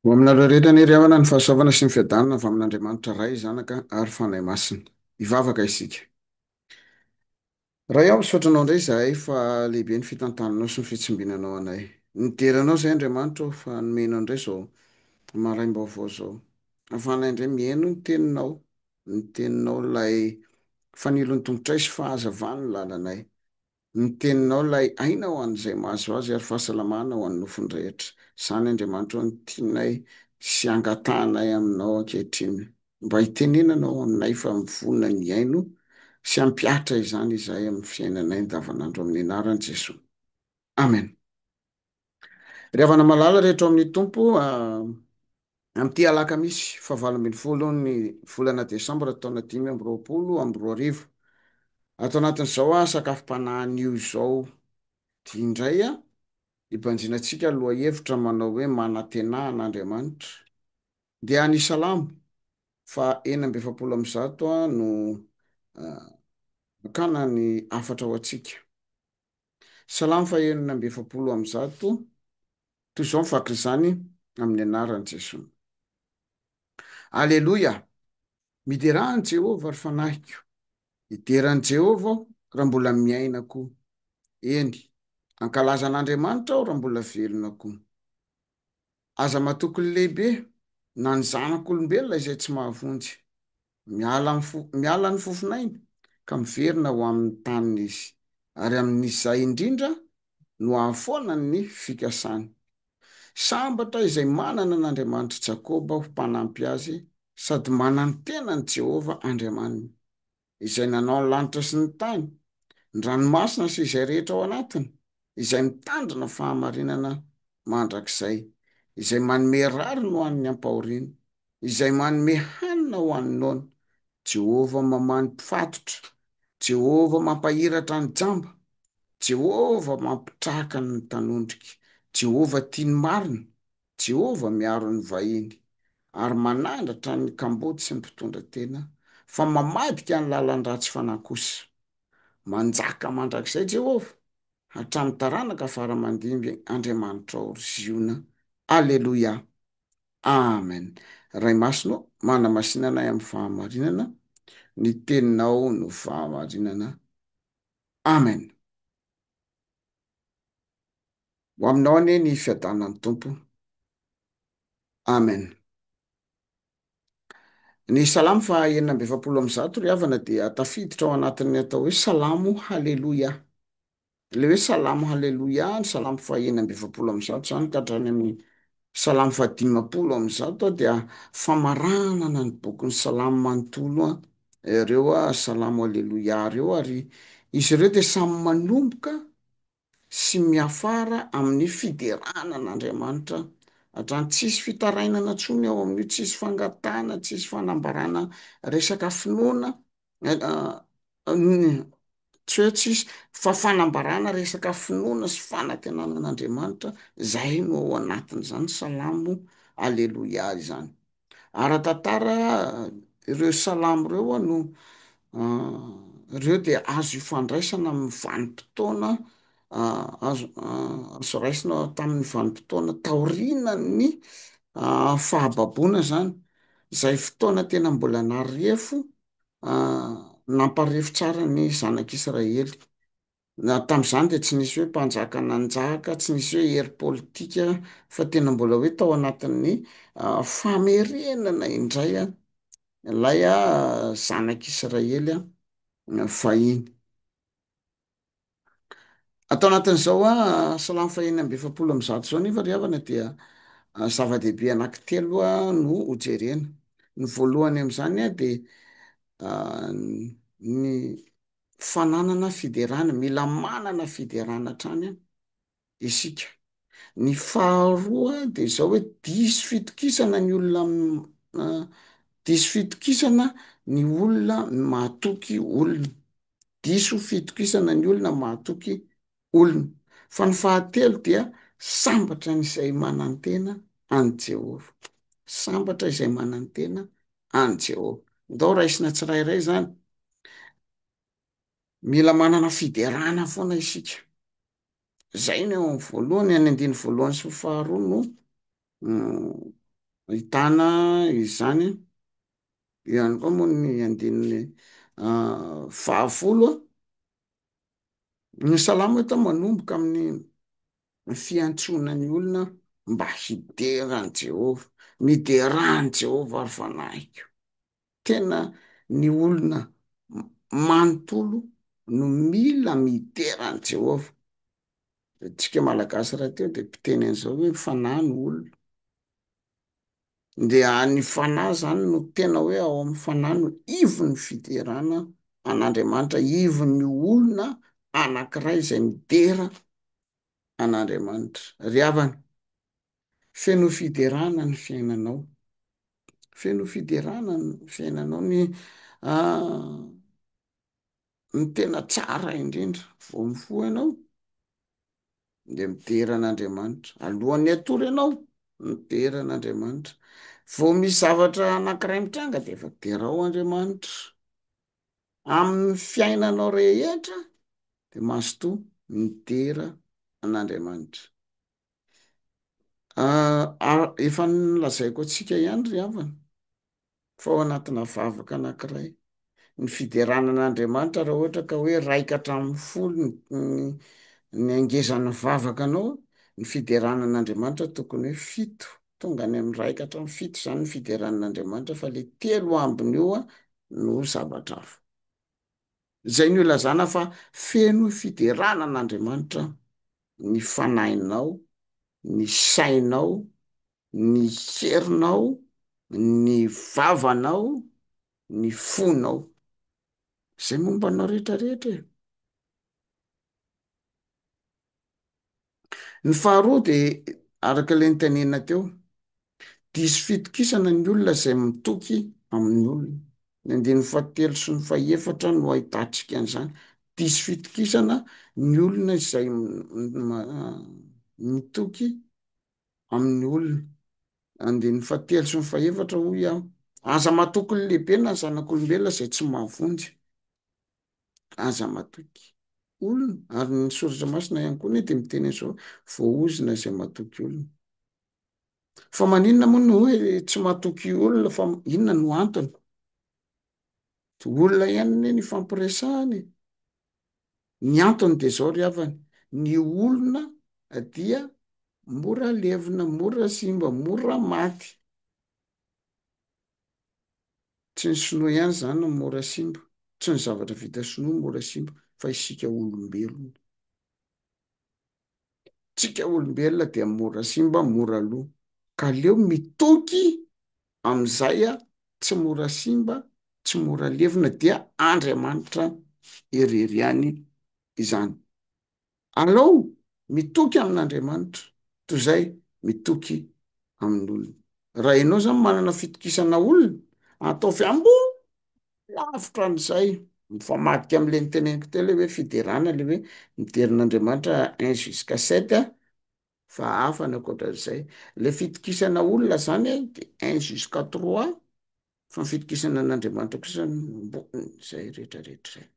Ho aminareo rehetra anie ry havana ny fahasoavana sy ny fiadanana avy amin'Andriamanitra Ray, Zanaka ary Fanahy Masina. Hivavaka isika. Ray ao, misaotra Anao indray izahay fa lehibe ny fitantananao sy ny fitsimbinanao anay. Nidera Anao izahay Andriamanitra ô fa nomenao indray izao maraim-baovao izao. Hahafahanay indray mihaino ny Teninao, ny Teninao ilay fanilo ny tongotray sy fahazavan ny lalanay. Ny teninao ilay aina ho an'izay mahazo azy ary fahasalamana ho an'ny nofony rehetra. Izany Andriamanitra ao no tianay sy angatahanay aminao ankehitriny. Mba hitenenana ao aminay fa mivonona ny hihaino sy hampihatra izany izahay amin'ny fiainanay andavanandro amin'ny anaran'i Jesoa. Amen. Ry havana malala rehetra ao amin'ny Tompo, amin'ity alakamisy fahavalo ambin'ny folon'ny volana desambra taona dimy amby roapolo amby roa arivo, ato anatin'izao sakafom-panahy anio izao indray, hibanjinantsika ny lohahevitra manao hoe Manantenà an'Andriamanitra. Dia ny Salamo faha enina amby efapolo amby zato no hakana ny hafatra ho antsika. Salamo fahenina amby efapolo amby zato, Toy izao ny fatr'izany amin'ny anaran'i Jesosy. Aleloia! Miderà an'i Jehovah, ry fanahiko, hidera an'i Jehovah aho raha mbola miaina koa, eny, hankalaza an'Andriamanitra aho raha mbola velona koa. Aza matoky ny lehibe na ny zanak'olombelona izay tsy mahavonjy. Miala amin'ny fo, miala ny fofon'ainy ka miverina ho amin'ny taniny izy, ary amin'izay indrindra no ahafoana ny fikasany. Sambatra izay manana an'Andriamanitr'i Jakoba ho mpanampy azy sady manantena an'i Jehovah Andriamaniny. Izay nanao ny lanitra sy ny tany, ny ranomasina sy izay rehetra ao anatiny, izay mitandrina fahamarinana mandrakizay, izay manome rariny ho an'ny ampahoriana, izay manome hanina ho an'ny noana, Jehovah mamaha ny mpifatotra, Jehovah mampahiratra ny jamba, Jehovah mampitraka ny mpanondrika, Jehovah tia ny marina, Jehovah miaro ny vahiny, ary manandratra ny kamboty sy ny mpitondra tena, fa mamadika ny lalan-dratsy fanahy kosa. Manjaka mandrakizay Jehovah, hatramin'ny taranaka fara aman-dimby Andriamanitrao ry Ziona. Aleloia! Amen! Ray Masina ô, manamasina anay amin'ny fahamarinana, ny Teninao no fahamarinana. Amen! Ho aminao anie ny fiadanan'ny Tompo. Amen. Ny Salamo faha enina amby efapolo amby zato ry havana dia tafiditra ao anatin'ny atao hoe Salamo Haleloia. Ilay hoe Salamo Haleloia, ny Salamo faha enina amby efapolo amby zato izany ka hatrany amin'ny Salamo fahadimampolo amby zato dia famaranana ny bokin'ny Salamo manontolo ireo Salamo Aleloia ireo ary izy ireo dia samy manomboka sy miafara amin'ny fiderana an'Andriamanitra hatrany. Tsisy fitarainana intsony ao amin'io, tsisy fangatahana, tsisy fanambarana resaka finoana tsy hoe tsisy fa fanambarana resaka finoana sy fanantenana an'Andriamanitra zay no ao anatin'izany salamo aleloia izany, ara-tantara ireo salamo ireo a no ireo dia azo ifandraisana amin'ny vanim-potoana azo azo raisina tamin'ny vanim-potoana taorianan'ny fahababoana zany. Izay fotoana tena mbola narefo, namparefo tsara ny zanak'Israely. Tamin'izany dia tsy nisy hoe mpanjaka nanjaka, tsy nisy hoe hery politika, fa tena mbola hoe tao anatin'ny famerenana indray ilay zanak'Israely fahiny. Ato anatin'izao salamo fahiny amby efapolo amby zato izao nefa ry havana dia zava-dehibe anankitelo no hojerena. Ny voalohany amin'izany dia ny fananana fiderana, mila manana fiderana hatrany an. isika. Ny faharoa dia izao hoe diso fitokisana ny olona, diso fitokisana ny olona mahatoky olona, diso fitokisana ny olona mahatoky olona. Fa ny fahatelo dia sambatra ny izay manantena an'i Jehovah, sambatra izay manantena an'i Jehovah. Ndao raisina tsirairay izany, mila manana fiderana foana isika. Zay ny ao amin'ny voalohany, any andininy voalohany sy faharoa no ahitana izany an. Eo ihany koa moa ny andininy fahafolo an. Ny salamo eto manomboka amin'ny fiantsoana ny olona mba hidera an'i Jehovah, midera an'i Jehovah ry fanahiko. Tena ny olona manontolo no mila midera an'i Jehovah. Isika Malagasy rahateo dia mpiteny an'izao hoe ny fanahy no olona. Dia ny fanahy izany no tena hoe ao amin'ny fanahy no ivon'ny fiderana an'Andriamanitra, ivon'ny olona anankiray izay midera an'Andriamanitra. Ry havana, Feno fiderana ny fiainanao. Feno fiderana ny fiainanao. Ny ny tena tsara indrindra, vao mifoha ianao dia midera an'Andriamanitra. Alohan'ny hatory ianao, midera an'Andriamanitra. Vao misy zavatra anankiray mitranga dia efa derao Andriamanitra. Amin'ny fiainanao rehetra dia mazotoa midera an'Andriamanitra. Ah, efa nolazaiko antsika ihany ry havana fa ao anatina vavaka anankiray, ny fiderana an'Andriamanitra raha ohatra ka hoe raika hatramin'ny folo ny- ny hangezan'ny vavakanao, ny fiderana an'Andriamanitra tokony hoe fito, tonga any amin'ny raika hatramin'ny fito zany ny fiderana an'Andriamanitra fa le telo ambiny eo no zavatra hafa. Izay no ilazana fa feno fiderana an'Andriamanitra ny fanahinao, ny sainao, ny herinao, ny vavanao, ny fonao. Izay momba anao rehetra rehetra e. Ny faharoa de araka le nitenenina teo, diso fitokisana ny olona izay mitoky amin'ny olona. Ny andininy fahatelo sy ny fahefatra no ahitantsika an'izany, diso fitokisana ny olona izay mitoky amin'ny olona. Andininy fahatelo sy ny fahefatra hoy aho, aza matoky ny lehibe na ny zanak'olombelona izay tsy mahavonjy. Aza matoky olona. Ary ny soratra masina ihany koa anie dia miteny an'izao, voaozona izay matoky olona. Fa maninona moa no hoe tsy matoky olona fa inona no antony? Dia olona ihany anie no ifampiresahana e. Ny antony dia izao ry havana, ny olona dia mora levona, mora simba, mora maty. Tsy ny sinoa ihany izany no mora simba, tsy ny zavatra vita sinoa no mora simba fa isika olombelona. Isika olombelona dia mora simba, mora lo. Ka aleo mitoky amin'izay tsy mora simba, tsy mora levona dia Andriamanitra irery ihany izany. Alao mitoky amin'Andriamanitra toy izay mitoky amin'olona. Raha ianao izany manana fitokisana olona, ataovy ambony lavitra an'izay. Mifamadika amin'ilay noteneniko teo ilay hoe fiderana, ilay hoe midera an'Andriamanitra un jusqu'à sept fa hafa ny ankoatran'izay. Ilay fitokisana olona izany dia un jusqu'à trois fa ny fitokisana an'Andriamanitra kosa ambony izay rehetra rehetra izay.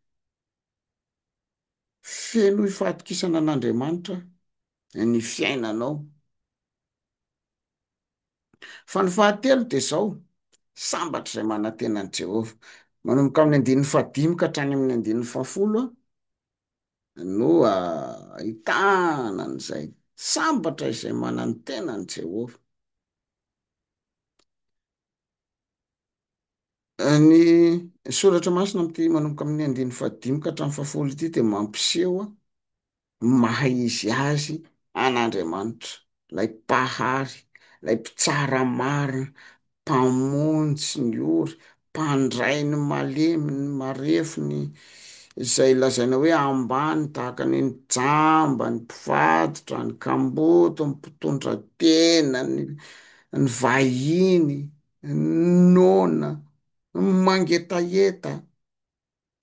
Fenoy fahatokisana an'Andriamanitra ny fiainanao. Fa ny fahatelo dia izao, sambatra izay manantena an'i Jehovah. Manomboka amin'ny andininy fahadimy ka hatrany amin'ny andininy fahafolo no ahitana an'izay, sambatra izay manantena an'i Jehovah. Ny soratra masina amin'ity manomboka amin'ny andininy fahadimy ka hatramin'ny fahafolo ity dia mampiseho ny maha izy azy an'Andriamanitra, ilay Mpahary, ilay Mpitsara marina, Mpamonjy ny ory, Mpandray ny malemy, ny marefo, ny izay lazaina hoe ambany tahaka ny ny jamba, ny mpivaditra, ny kamboty, ny mpitondra tena, ny ny vahiny, ny noana, ny mangetaheta,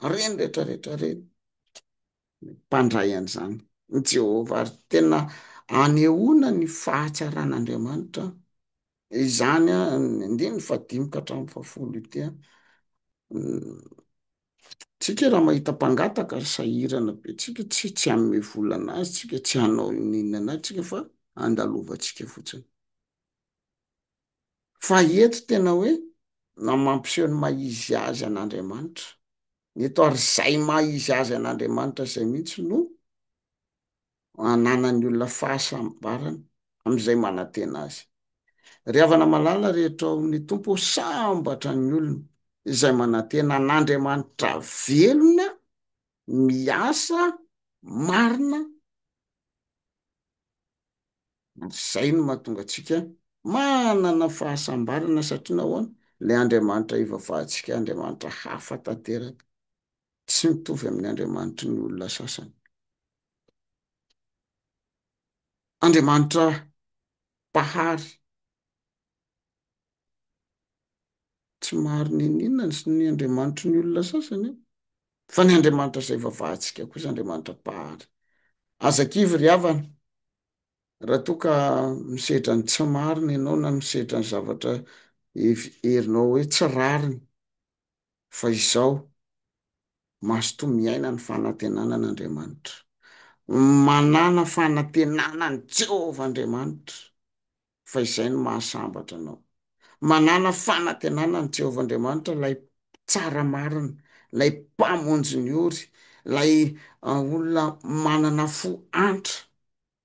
ireny rehetrarehetra ireny, mpandray an'izany i Jehovah, ary tena anehoana ny fahatsaran'Andriamanitra izany, ny andininy fahadimy ka hatramin'ny fahafolo ity an. Tsika raha mahita mpangataka ary sahirana be tsika tsy tsy hanome vola anazy tsika tsy hanao inona anazy tsika fa andalovantsika fotsiny fa eto tena hoe na mampiseho ny maha izy azy an'Andriamanitra ny eto ary zay maha izy azy an'Andriamanitra zay mihitsy no ananan'ny olona fahasambarana amin'izay manantena azy. Ry havana malala rehetra ao amin'ny Tompo ô, sambatra ny olona izay manantena an'Andriamanitra velona miasa marina ary izay no mahatonga antsika manana fahasambarana satria nahoana? Ilay Andriamanitra ivavahantsika Andriamanitra hafa tanteraka, tsy mitovy amin'ny Andriamanitry ny olona sasany. Andriamanitra Mpahary. Tsy maro niniana ny Andriamanitry ny olona sasany an! Fa ny Andriamanitra izay vavahantsika kosa Andriamanitra Mpahary. Aza kivy ry havana, raha toa ka misedra ny tsy marina ianao na misedra ny zavatra herinao hoe tsy rariny. fa izao mazotoa miaina ny fanantenana an'Andriamanitra. Manàna fanantenana an'i Jehovah Andriamanitra, fa izay no mahasambatra anao. Manàna fanantenana an'i Jehovah Andriamanitra, ilay Mpitsara marina, ilay Mpamonjy ny ory, ilay olona manana fo antra,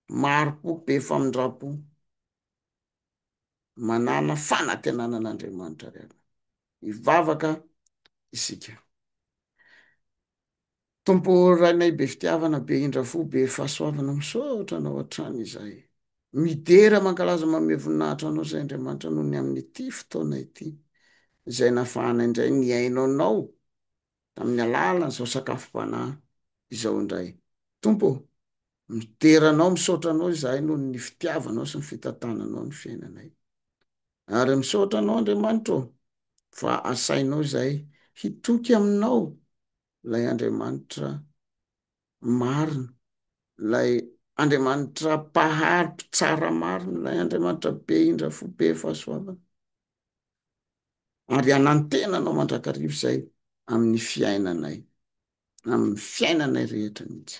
mari-po, be famindram-po. manana fanantenana an'Andriamanitra avy aminy. Hivavaka isika. Tompo Rainay be fitiavana, be indra fo, be fahasoavana, misaotra Anao hatrany izahay. Midera mankalaza manome voninahitra Anao izay Andriamanitra noho ny amin'ity fotoana ity, izay nafahanay indray nihaino Anao tamin'ny alalan'izao sakafom-panahy izao indray. Tompo ô, midera Anao, misaotra Anao izahay noho ny fitiavanao sy ny fitantananao ny fiainanay. Ary misaotra Anao, Andriamanitra ô, fa asainao izahay hitoky Aminao, ilay Andriamanitra marina, ilay Andriamanitra mpahary, mpitsara marina, ilay Andriamanitra be indra fo, be fahasoavana. ary hanantena anao mandrakariva izay amin'ny fiainanay, amin'ny fiainanay rehetra mihitsy.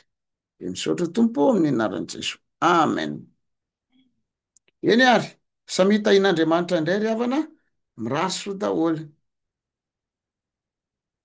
Dia misaotra Tompo amin'ny anaran'i Jesoa. Amen. Eny ary, samia tahin'Andriamanitra indray ry havana, mirary soa daholo.